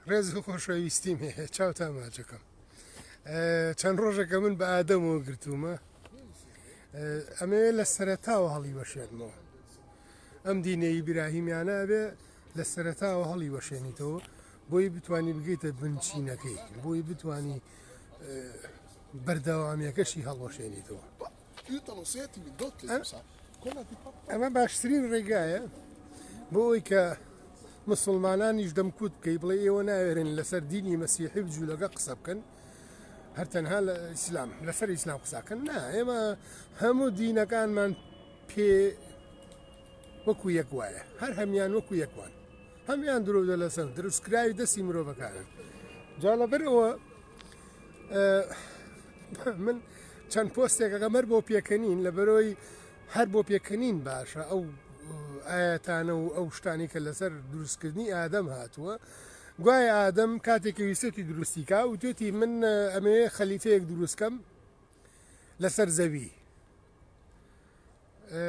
ڕێز و خۆشەویستیم هەیە چاو تا ماچەکەم چەند ڕۆژەکە من بە ئادەمەوە گرتوومە ئەمەوێ لە سەرتاوە هەڵی وەشێنمەوە ئەم دینەی براهیمیانە ئەبێ لە سەرتاوە هەڵی وەشێنیتەوە بۆی بتانی بگەیتە بنچینەکەی بۆی بتانی بەردەوامیەکەشی هەڵوەشێنیتەوە ئەمە باشترین ڕێگایە بۆ ئەوی کە مسلمانانیش دەمکوت بکەی بڵێ ئێوە ناوێرن لەسەر دینی مەسیحی بجوولەکە قسە بکەن هەر تەنها لە ئیسلام لەسەر ئیسلام قساکەن نا ئێمە هەموو دینەکانمان پێ وەکو یەک وایە هەر هەمان وەکو یەکوان هەمان درۆدە لەسەر دروستکراوی دەستی مرۆڤەکانن جا لەبەرەوە من چەند پۆستێک ئەگەمەر بۆ پێکەنین لە بەرۆی هەر بۆ پێکەنین باشە ئەو ئاەتانە و ئەو شتانی کە لەسەر دروستکردنی ئادەم هاتووە گوای ئادەم کاتێکی ویستی دروستیکا و توێتی من ئەمێ خەلیفەیەک دروستکەم لەسەر زەوی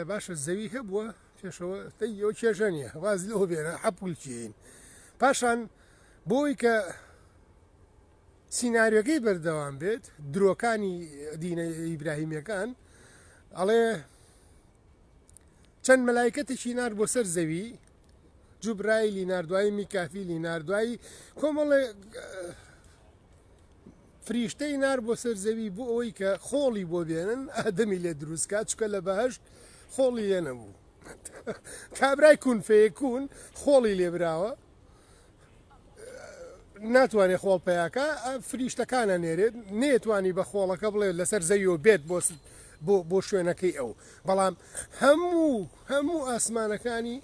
باشە زەوی هەبووە پێشەوە یۆ کێژە نیە واز لەوە بێنە حەپولکیین پاشان بۆی کە سیناریۆکەی بەردەوام بێت درۆکانی دینە ئیبراهیمەکان ئەڵێ چەند مەلایکەتێکی نار بۆ سەر زەوی جوبرایلی نردوایی میکافیلی نردوایی کۆمەڵێ فریشتەی نار بۆ سەر زەوی بۆ ئەوەی کە خۆڵی بۆ بێنن ئادەمی لێ دروستکە چکە لە بەهشت خۆڵی لێ نەبوو کابرای کون فەیەکون خۆڵی لێبراوە ناتوانێت خۆڵ پیاکە فریشتەکانە نێرێت نێتوانی بە خۆڵەکە بڵێ لەسەر زەویۆ بێت بۆ بۆ بۆ شوێنەکەی ئەو بەڵام هەموو هەموو ئاسمانەکانی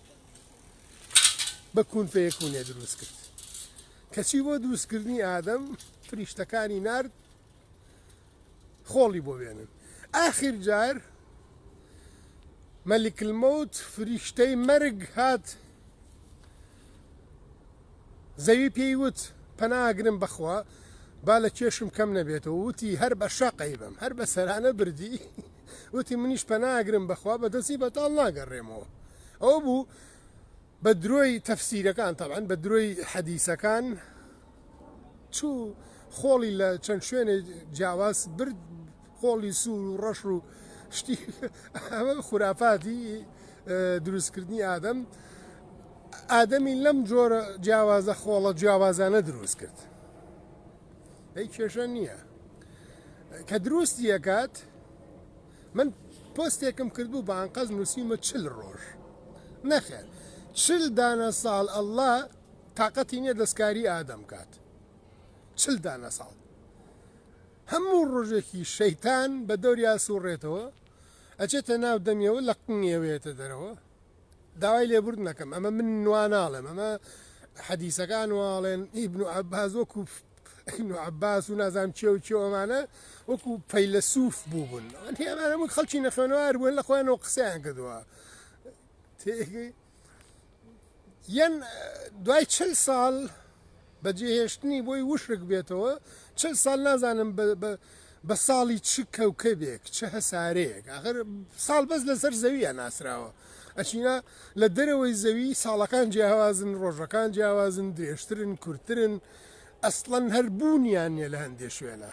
بە کون پێکوونێ دروست کرد کەچی بۆ دروستکردنی ئادەم فریشتەکانی نرد خۆڵی بۆ بێنن ئاخیر جار مەلیک المەوت فریشتەی مەرگ هات زەوی پێی وت پەناگرم بەخوا با لە کێشم کەم نەبێتەوە وتی هەر بە شەقەی بم هەر بە سەرانە بردی وتی منیش پەناگرم بەخوا بە دەستی بەتاڵ ناگەڕێمەوە ئەو بوو بە درۆی تەفسیرەکان تەبعەن بە درۆی حەدیسەکان چوو خۆڵی لە چەند شوێنێ جیاواز برد خۆڵی سوور و ڕەش و شتی ئەمە خورافاتی دروستکردنی ئادەم ئادەمی لەم جۆرە جیاوازە خۆڵە جیاوازانە دروست کرد ئەی کێشە نییە کە دروستی ئەکات من پۆستێکم کردبوو بە ئەنقەست نوسیومە چل ڕۆژ نەخێر چل دانە ساڵ اللە تاقەتی نیە دەستکاری ئادەم کات چل دانە ساڵ هەموو ڕۆژێکی شەیتان بە دەوریا سوڕێتەوە ئەچێتە ناو دەمیەوە لە قنگیەوەیەتە دەرەوە داوای لێبوردن ئەکەم ئەمە من وا ناڵێم ئەمە حەدیسەکان واڵێن ئیبن و عباس وەکو ابن عباس و نازام چێ و چێ ئەمانە وەکو پەیلەسوف بووبوون ئەمانە من خەڵکی نەخوێنەوار بوون لە خۆیانەوە قسەیان کردووە یەن دوای چل ساڵ بە جێهێشتنی بۆی وشک بێتەوە چل ساڵ نازانم بە ساڵی چ کەوکەبێک چ هەسارەیەک ئاخر ساڵ بەس لەسەر زەویە ناسراوە ئەچینا لە دەرەوەی زەوی ساڵەکان جیاوازن ڕۆژەکان جیاوازن درێژترن کورتترن ئەسڵەن هەر بوونیان نیە لە هەندێ شوێنە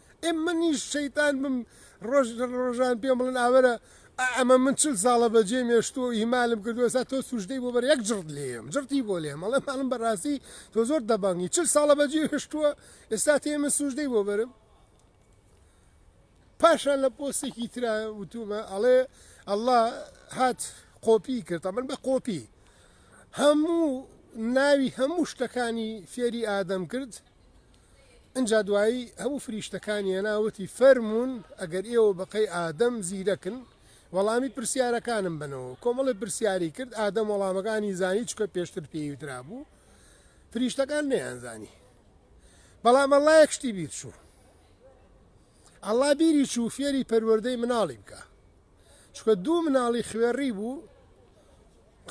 ئێ منیش شەیتان بم ڕۆژ لە ڕۆژان پێم بڵێن ئاوەرە ئەمە من چل ساڵە بەجێ مێشتوە و ئیمالم کردو ئێستا تۆ سوژدەی بۆ بەر یەک جڕت لێم جڕتی بۆ لێم ئەڵێ ماڵم بەڕاستی تۆ زۆر دەبەنگی چل ساڵە بەجێ هێشتووە ئێستا تێ من سوژدەی بۆ بەرم پاشان لە پۆستێکی ترا وتومە ئەڵێ ئەله هات قۆپی کرد من بە قۆپی هەموو ناوی هەموو شتەکانی فێری ئادەم کرد ئنجا دوایی هەموو فریشتەکانی هێنا وتی فەرموون ئەگەر ئێوە بەقەی ئادەم زیرەکن وەڵامی پرسیارەکانم بەنەوە کۆمەڵی پرسیاری کرد ئادەم وەڵامەکانی زانی چکە پێشتر پێیوترابوو فریشتەکان نەیانزانی بەڵام ئەڵا یەک شتی بیر چوو ئەڵا بیری چوو فێری پەروەردەی مناڵی بکە چکە دوو مناڵی خوێڕی بوو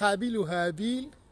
قابل و هابیل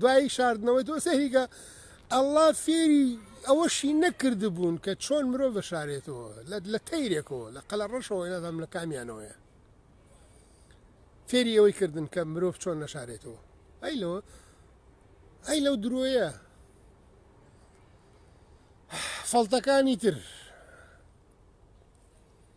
دوای شاردنەوەی تۆ سەیریکە ئەڵڵا فێری ئەوەشی نەکردبوون کە چۆن مرۆڤ بەشارێتەوە لە تەیرێکەوە لە قەلە ڕەشەوە نازانم لە کامیانەوەیە فێری ئەوەی کردن کە مرۆڤ چۆن نەشارێتەوە ئەی لەوە ئەی لەو درۆیە فەڵتەکانی تر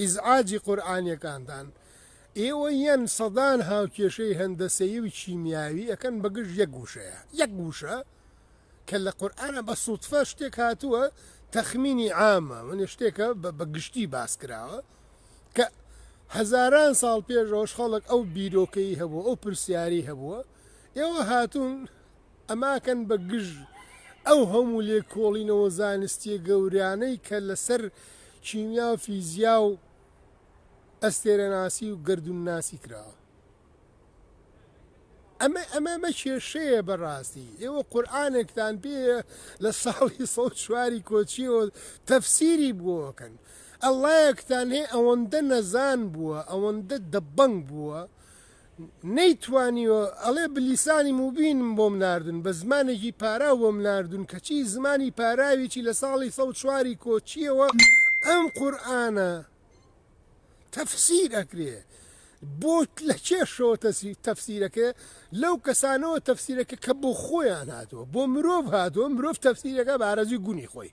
ئیزعاجی قورئانیەکانتان ئێوە یەن سەدان هاوکێشەی هەندەسەیی و کیمیاوی ئەکەن بە گژ یەک وشەیە یەک وشە کە لە قورئانە بە سوتفە شتێک هاتووە تەخمینی عامە من شتێکە بە گشتی باس کراوە کە هەزاران ساڵ پێشەوەش خەڵک ئەو بیرۆکەی هەبوو ئەو پرسیاری هەبووە ئێوە هاتوون ئەماکەن بە گژ ئەو هەموو لێکۆڵینەوە زانستیە گەورانەی کە لەسەر کیمیا و فیزیا و ئەستێرەناسی و گەردوون ناسی کراوە. ئەمە ئەمە مە کێشەیە بەڕاستی ئێوە قورآانێکتان پێ لە ساڵی سە چواری کۆچیەوە تەفسیری بووەکەن ئەلایەکتان هەیە ئەوەندە نەزان بووە ئەوەندە دەبەنگ بووە نەیتوانیوە ئەڵێ بلیسانی موبینم بۆم ناردون بە زمانێکی پاراو بۆم ناردون کەچی زمانی پاراویی لە ساڵی سەد و چوار ی کۆچیەوە ئەم قورئانە تەفسیر ئەکرێ بۆ لە کێشەوە تەفسیرەکە لەو کەسانەوە تەفسیرەکە کە بۆ خۆیان هاتوە بۆ مرۆڤ هاتوە مرۆڤ تەفسیرەکە بارەزوی گونی خۆی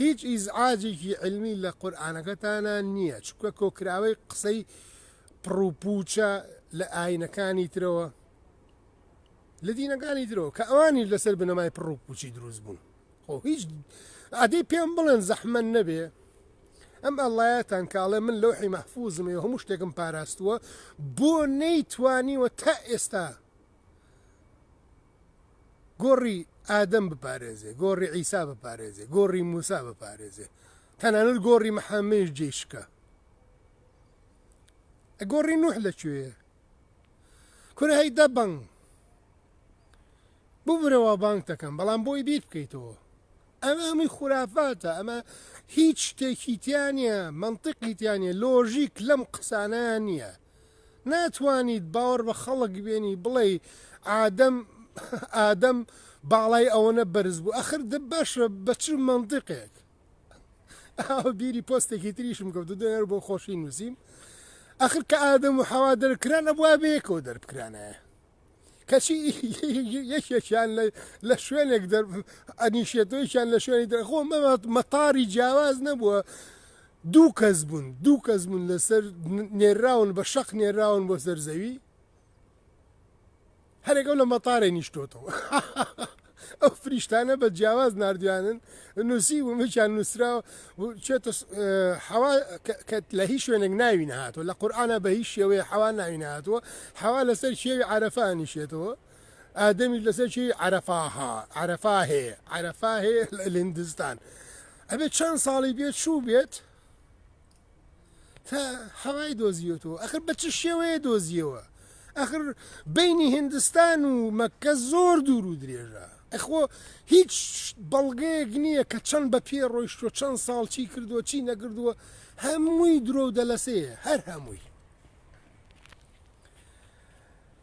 هیچ ئیزعاجێکی علمی لە قورئانەکەتانا نیە چونکە کۆکراوەی قسەی پڕو پوچە لە ئاینەکانی ترەوە لە دینەکانی درەوە کە ئەوانی لەسەر بنەمای پڕو پوچی دروست بوون خۆ هیچ ئادەی پێم بڵێن زەحمەن نەبێ ئەم ئەلایەتان کاڵێ من لەوحی مەحفوزمێ هەموو شتێکم پاراستووە بۆ نەیتوانیوە تا ئێستا گۆڕی ئادەم بپارێزێ گۆڕی عیسا بپارێزێ گۆڕی موسا بپارێزێ تەنانەت گۆڕی محەممەش جێی شکا گۆڕی نوح لەکوێ کورە هەی دە بەنگ ببرەوە بانگ دەکەم بەڵام بۆی بیر بکەیتەوە ئەمە هەمووی خورافاتە ئەمە هیچ شتێکی تیانە منطقی تیانە لۆژیک لەم قسانە نییە ناتوانیت باوەڕ بە خەڵک بێنی بڵێ ئادەم ئادەم باڵای ئەوەنە بەرز بوو ئەخر دە باشە بە چ منطقێک بیری پۆستێکی تریشم کەوت دەێر بۆ خۆشی نووسیم ئەخر کە ئادەم و حەوا دەرکران ئەبووە بەیەکەوە دەربکرانایە کەچی یەکێکیان لە شوێنێک ئەنیشێتەوەیان لە شوێنی دەخۆ مەتاری جیاواز نەبووە دوو کەس بوون دوو کەس بوون لەسەر نێراون بە شەق نێراون بۆ سەر زەوی هەرێکە لە مەتارێ نیشتۆتەوە ئەو فریشتانە بە جیاواز ناردویانن نوسی ومکیان نوسراوە چێتە حەوا کە لە هیچ شوێنێک ناوی نهاتوە لە قورآە بە هیچ شێوەیە حەوا ناوی نهاتوە حەوا لەسەر شێوی عرفانی شێتەوە ئادەمیش لەسەر شێوی عرفاها عرفا هەیە عرفا هەیە لە هندستان ئەبێت چەند ساڵی بێت چوو بێت تا حەوای دۆزیوەتەوە ئەخر بە چ شێوەیە دۆزیەوە ئەخر بینی هندستان و مەکە زۆر دوور و درێژە ئەخۆ هیچ بەڵگەیەک نییە کە چەند بە پێ ڕۆیشتۆ چەند ساڵ چی کردووە چی نەگردووە هەمووی درۆ و دەلەسەیە هەر هەمووی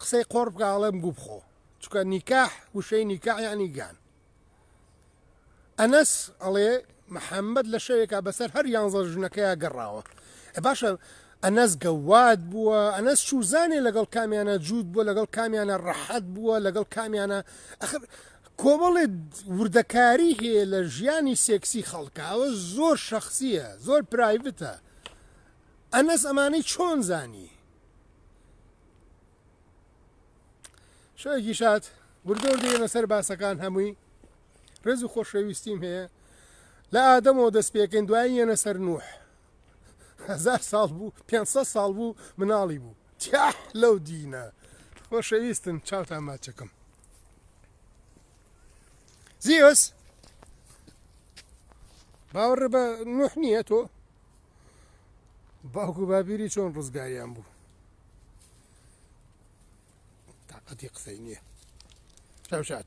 قسەی قۆڕ بکە ئەڵێم گوو بخۆ چکە نیکاح وشەی نیکاح یعنی گان ئەنەس ئەڵێ محەممەد لە شەوێکا بەسەر هەر یانزە ژنەکەیا گەڕاوە باشە ئەنەس گەواد بووە ئەنەس چوزانێ لەگەڵ کامیانە جووت بووە لەگەڵ کامیانە ڕەحەت بووە لەگەڵ کامیانە ئەخر کۆمەڵێ وردەکاری هەیە لە ژیانی سێکسی خەڵکە ئەوە زۆر شخصیە زۆر پرایڤتە ئەنەس ئەمانەی چۆن زانی شەوێکی شاد وردەور دێنە سەر باسەکان هەمووی ڕێز و خۆشەویستیم هەیە لە ئادەمەوە دەست پێکەین دوای یەنە سەر نوح هزار ساڵ بوو 500 ساڵ بوو مناڵی بوو تیاح لەو دینە خۆشەویستن چاوتان ماچەکەم زیۆس باوەڕ بە نوح نییە تۆ باوک و باپیری چۆن ڕزگاریان بوو تاقەتی قسەی نییە شات